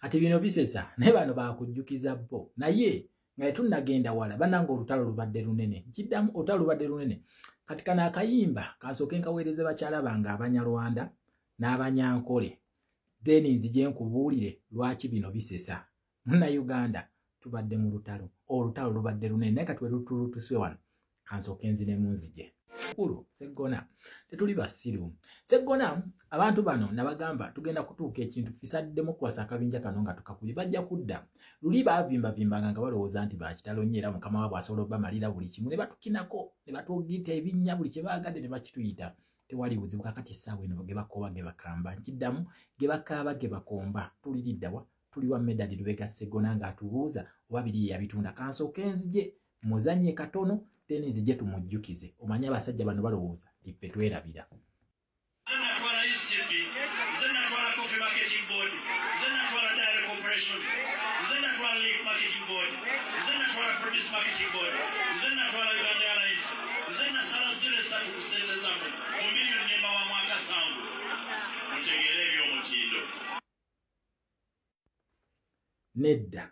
kati bino bisesa naye bano bakujjukiza bo naye nga tetunnagenda wala bananga olutalo lubadde lunene nkiddamu olutalo lubadde lunene kati kano akayimba kansooke nkaweereze bakyala bange abanyarwanda n'abanyankole then nzije nkubuulire lwaki bino bisesa munnauganda tubadde mu lutalo olutalo lubadde lunene naye kati werutulutuswe wano kansooke nzinemu nzije kulu seggona tetuli basiru seggona abantu bano nabagamba tugenda kutuuka ekintu fisaddemu kuwasa akabinja kano nga tukakuli bajja kudda luli baavimbavimbanga nga balowooza nti bakitalo nnyo era mukama wabwe asobola obamalira buli kimu ne batukinako ne batugita ebinnya buli kye baagadde ne bakituyita tewali buzibu kakati essaawa eno ge bakooba ge bakamba nkiddamu ge bakaaba ge bakomba tuliriddawa tuli wa medadi lubega seggona ng'atubuuza oba biri yeyabitunda kansooka enzije muzanye katono teni nzije tumujjukize omanyi abasajja bano balowooza tipe twerabira nedda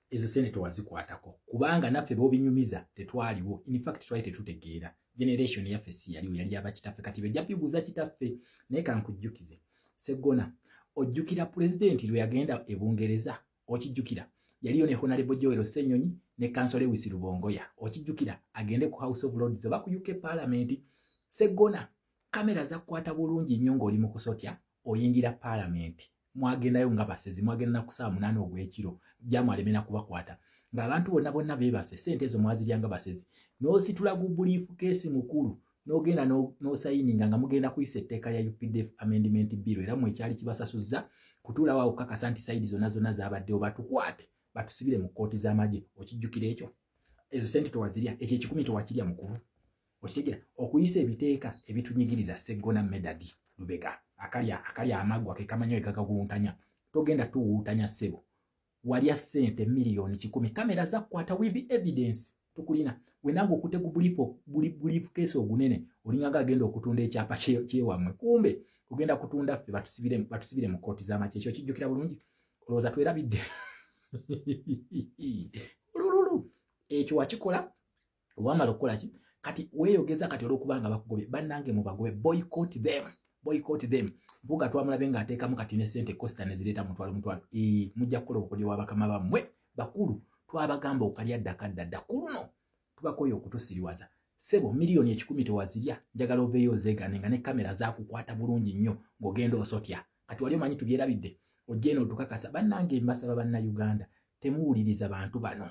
ezo sente tewazikwatako kubanga naffe bobinyumiza tetwaliwo infact twali tetutegeera generation yaffe si yaliwo yali yabakitaffe kati bejja bibuuza kitaffe naye kankujjukize seggona ojjukira pulezidenti lwe yagenda e bungereza okijjukira yaliyo ne honalebo joel senyonyi ne kansol ewisi lubongoya okijjukira agende ku house of lords oba ku uk palamenti seggona kamera zakukwata bulungi nnyo ng'oli mu kusotya oyingira paalamenti mwagendayo nga basezi mwagenda nakusaa munaana ogw'ekiro gyamwalemena kubakwata ng'abantu bonna bonna beebase sente ezo mwazirya nga basezi n'ositula gu buliifu keesi mukulu n'ogenda n'osayininga nga mugenda kuyisa etteeka lya updf amendment bill era mwe ekyali kibasasuzza kutuulawo awo kukakasa nti sayidi zonna zonna zaabaddewo batukwate batusibire mu kkooti z'amagye okijjukira ekyo ezo sente tewazirya ekyo ekikumi tewakirya mukulu okitegera okuyisa ebiteeka ebitunyigiriza seggona medadi lubega akalya akalya amagwa kekamanya wekagaguntanya togenda tuwuutanya ssebo walya ssente miliyoni kikumi kamera zakukwata with evidence tukulina wenange okute ku bulifukeesi ogunene olingaga agenda okutunda ekyapa kyewammwe kumbe ogenda kutunda ffe batusibire mu kooti z'amaki ekyo kijjukira bulungi olowooza twerabidde olululu ekyo wakikola wamala okukola ki kati weyogeza kati olwokuba nga bakugobye bannange mubagobe boycott them boycott them mpuga twamulabe nga ateekamu kati ne sente costa nezireeta mutwalo mutwalo ee mujja kukola obukodyo bwa bakama bammwe bakulu twabagamba okalya ddaka ddadda ku luno tubakoye okutusiriwaza sebo miliyoni ekikumi tewazirya njagala oveeyo ozeegane nga ne kamera zakukwata bulungi nnyo ng'ogenda osotya kati wali omanyi tubyerabidde ojjeeno otukakasa bannange mbasaba banna uganda temuwuliriza bantu bano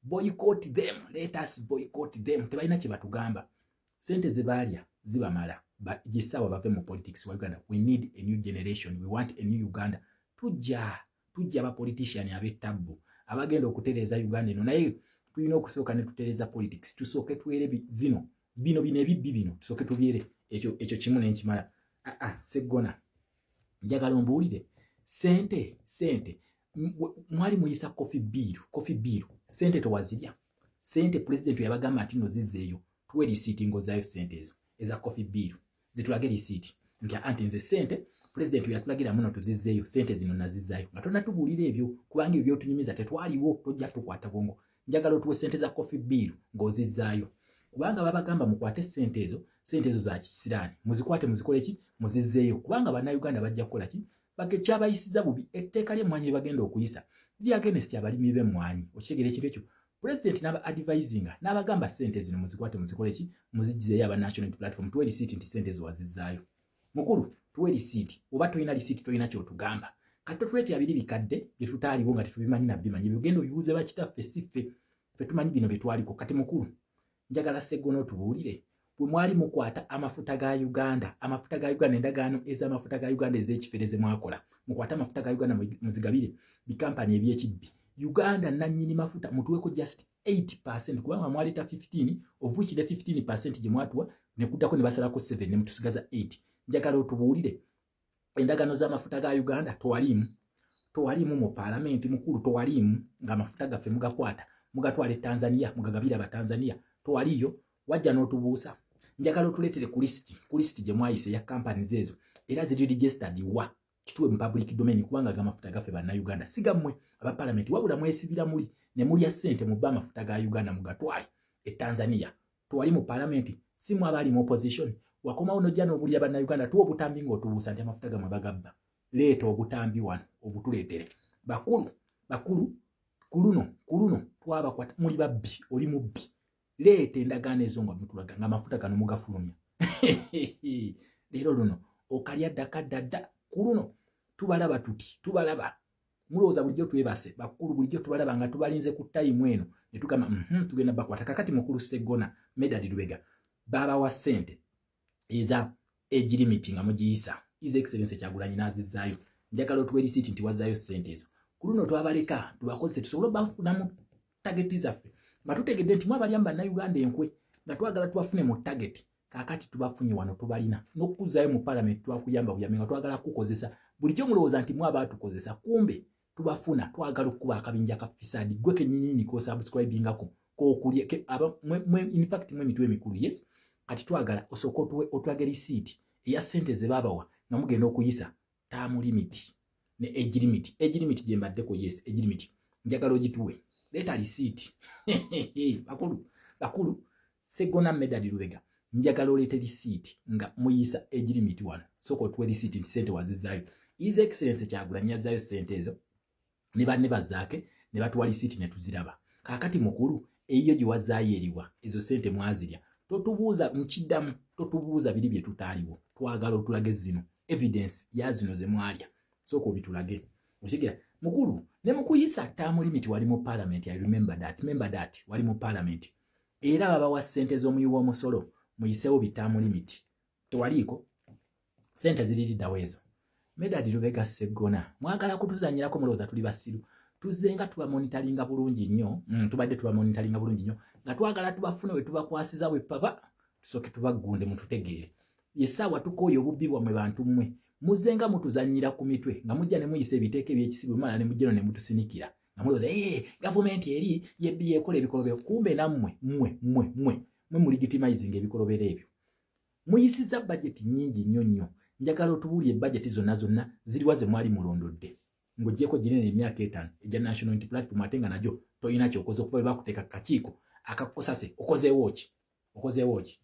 boycott them let us boycott them tebalina kye batugamba sente ze baalya zibamala gisawa bave mu politics wa uganda we need a new generation we want a new uganda tujja tujja ba politician ab'ettabbu abagenda okutereeza uganda eno naye tulina okusooka ne tutereeza politics tusooke twere zino bino bino ebibbi bino tusooke tubyere ekyo ekyo kimu nenkimala aa ah, ah, seggona njagala ombuwulire sente sente mwali muyisa kofi biiru kofi biiru sente tewazirya sente pulezidenti yabagamba nti no zizeeyo tuwe risiiti ngaozaayo sente ezo eza kofi biiru zitulage risiiti nti anti nze sente pulezidenti yatulagira muno tuzizeeyo sente zino nazizaayo nga tonatubuulira ebyo kubanga ebyo byotunyumiza tetwaliwo tojja tukwata bwongo njagala otuwe sente za kofi biiru ngaozizaayo kubanga babagamba mukwate sente ezo sente ezo za kisiraani muzikwate muzikoleki muzizeeyo kubanga bannayuganda bajja kukolaki baga ekyabayisiza bubi etteeka ly'emmwanyi lye bagenda okuyisa liri agenesti abalimi b'emmwanyi okitegera ekintu ekyo pulezidenti n'aba adivayizinga n'abagamba ssente zino muzikwate muzikole ki muzijjizeyo aba national platform tuwe lisiiti nti ssente ezo wazizzaayo mukulu tuwe lisiiti oba tolina lisiiti tolina kyotugamba kati totuleetera biri bikadde bye tutaaliwo nga tetubimanyi nabbimanyi byogenda obibuuze bakitaffe si ffe ffe tumanyi bino bye twaliko kati mukulu njagala segona otubuulire bwe mwali mukwata amafuta ga uganda amafuta ga uganda endagaano ez'amafuta ga uganda ez'ekifere ze mwakola mukwate amafuta ga uganda muzigabire bikampani ebyekibbi uganda nanyini mafuta mutuweko just 8 percent kubanga mwaleeta 15 ovuikide 15 percent gye mwatuwa nekuddako ne basalako 7 ne mutusigaza 8 njagala otubuulire endagano z'amafuta ga uganda twaliimu twaliimu mu paalamenti mukulu twaliimu ng'amafuta gaffe mugakwata mugatwala e tanzania mugagabira abatanzania twaliiyo wajja n'otubuusa njagala otuleetere ku lisiti ku lisiti gye mwayise ya companies ezo era ziri registered wa kituwe mu public domain kubanga agamafuta gaffe bannayuganda sigammwe aba palamenti wabula mwesibira muli ne mulya ssente mubba amafuta ga uganda mugatwale e tanzania twali mu palamenti si mu abaali mu opposition wakomawo nojja n'obulira bannayuganda tuwa obutambi ng'otubuusa nti amafuta gamwe bagabba leeta obutambi wano obutuleetere bakulu bakulu ku luno ku luno twabakwata muli babbi oli mubbi leeta endagaano ezo nga mutulaga nga amafuta gano mugafulumya leero luno okalya ddaka ddadda ku luno tubalaba tuti tubalaba mulowooza bulijjo twebase bakulu bulijjo tubalaba nga tubalinze ku tayimu eno ne tugamba mhm, tugenda bakwata kakati mukulu seggona medadi lubega baabawa ssente eza egirimiti nga mugiyisa is excellence kyagulanyi n'azizaayo njagala otuwa erisiiti nti wazaayo ssente ezo ku luno twabaleka tubakozese tusobole obafunamu tageti zaffe nga tutegedde nti mwabalyamu bannayuganda enkwe nga twagala tubafune mu tageti kakati tubafunye wano tubalina nokukuzayo mu parliament twakuyamba buyambi nga twagala kukozesa bulijjo mulowooza nti mwe abaatukozesa kumbe tubafuna twagala okukuba akabinja ka fisadi gwe kenyinini kosubscribingako kokulya infact mwe emitwe emikulu yes kati twagala osooka otwagala isiiti eya sente zebabawa nga mugenda okuyisa taamu limiti ne age limit age limit gye mbaddeko yes age limit njagala ogituwe leeta lisiiti bakulu bakulu segona medadi lubega njagala oleete lisiiti nga muyisa age limit wano soka otuwe lisiiti nti sente wazizaayo is excellence kyagulanyi yazaayo sente ezo ne banne bazaake ne batuwa lisiiti ne tuziraba kaakati mukulu eyiyo gye wazaayo eriwa ezo ssente mwazirya totubuuza nkiddamu totubuuza biri bye tutaaliwo twagala otulage zino evidence ya zino ze mwalya sooka obitulage okigira mukulu ne mukuyisa ttaamu limiti wali mu paalamenti i remember that member that wali mu paalamenti era babawa ssente z'omuyi w'omusolo muyiseewo bitaamu limiti tewaliiko sente ziririddawo ezo medadi lubega seggona mwagala kutuzanyirako mulowooza tuli basiru tuzze nga tubamonitalinga bulungi nnyo mm, tubadde tubamonitalinga bulungi nnyo nga twagala tubafune we tubakwasiza we papa tusooke tubaggunde mututegeere yesaawa tukooya obubbi bwamwe bantu mmwe muzze nga mutuzanyira ku mitwe nga mujja ne muyisa ebiteeka ebyekisibu mala ne mujjeno ne mutusinikira nga mulowooza ee gavumenti eri yebbi yekola ebikolobero kumbe nammwe mmwe mmwe mmwe mwe muligitimayizinga ebikolobero ebyo muyisiza budget nyingi nnyo nnyo njagala otubuulire budget zonna zonna ziriwa ze mwali mulondodde ng'ogyeko ginene emyaka etaano egya national unity platform ate nga nagyo tolina kyokoze okuva bwe bakuteeka ku kakiiko akakukusase okozeewo ki okozeewo ki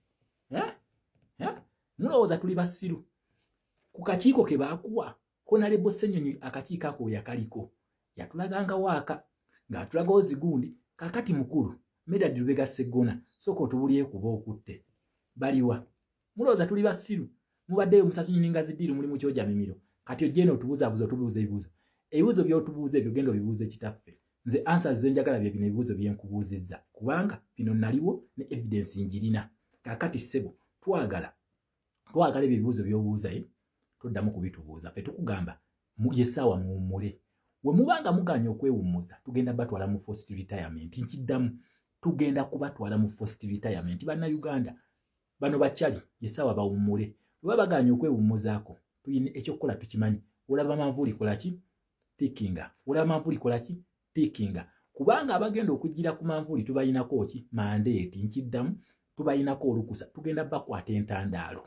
mulowooza tuli basiru ku kakiiko ke baakuwa Honorable Ssenyonyi akakiiko ako yakaliko yatulaganga waaka ng'atulaga ozigundi kakati mukulu Medard Lubega Sseggona sooka otubulye kuba okutte baliwa mulowooza tuli basiru mubaddeyo musasunyini nga zidiiru muli mu kyoja mimiro kati ojja eno otubuzabuza otubuuza ebibuuzo ebibuuzo by'otubuuza ebyo genda obibuuze kitaffe nze ansa ze njagala bye bino ebibuuzo bye nkubuuzizza kubanga bino naliwo ne evidensi ngirina kakati ssebo twagala twagala ebyo ebibuuzo byobuuzaye eh? toddamu kubitubuuza fe tukugamba yesaawa muwummule wemubanga muganya okwewummuza tugenda batwala mu first retirement nkiddamu tugenda kubatwala mu first retirement banna uganda bano bakyali yesaawa bawummule oba baganya okwewummuzaako tulina ekyokukola tukimanyi olaba manvuuli kolaki tikinga olaba manvuuli kolaki pikinga kubanga abagenda okujjira ku manvuuli tubalinako ki mandeeti nkiddamu tubalinako olukusa tugenda bakwata entandaalo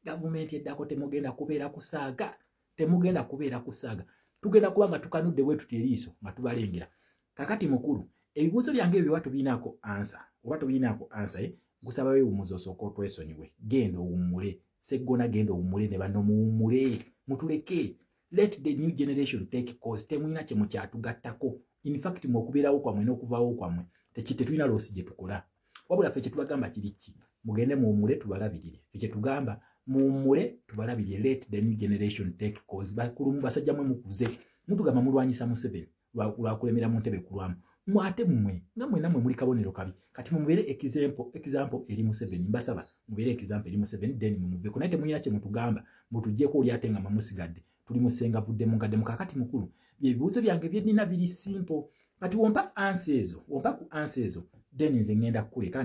gavumenti eddako temugenda kubeera kusaaga temugenda kubeera kusaaga tugenda kuba nga tukanudde bwe tuti eriiso nga tubalengera kakati mukulu ebibuuzo byange ebyo oba tubiinaako ansa oba tubiinaako ansa ye eh? gusaba wewumuza osooka otwesonyiwe genda owummule seggona genda owummule ne bano muwummule mutuleke let the new generation take cause temulina kye mukyatugattako in fact mwe okubeerawo kwammwe n'okuvaawo kwammwe tetulina loosi gye tukola wabula ffe kyetubagamba kiri ki mugende muwumule tubalabirire fe kyetugamba muwumule tubalabirire let the new generation take cause bakulumu basajja mwe mukuze mutugamba mulwanyisa museveni lwakulemera mu ntebe kulwamu mwate mwe nga mwena mwe muli kabonero kabi kati mumubeere ekizampo ekizampo eri museveni mbasaba mubeere ekizampo eri museveni then mumuveko naye temuyina kye mutugamba mutujjeko oli ate nga mamusigadde tuli musenga vudde mungadde mukakati mukulu byebibuuzo byange byennina biri simpo kati wompa ansi ezo wompa ku ansi ezo then nze ngenda kukuleka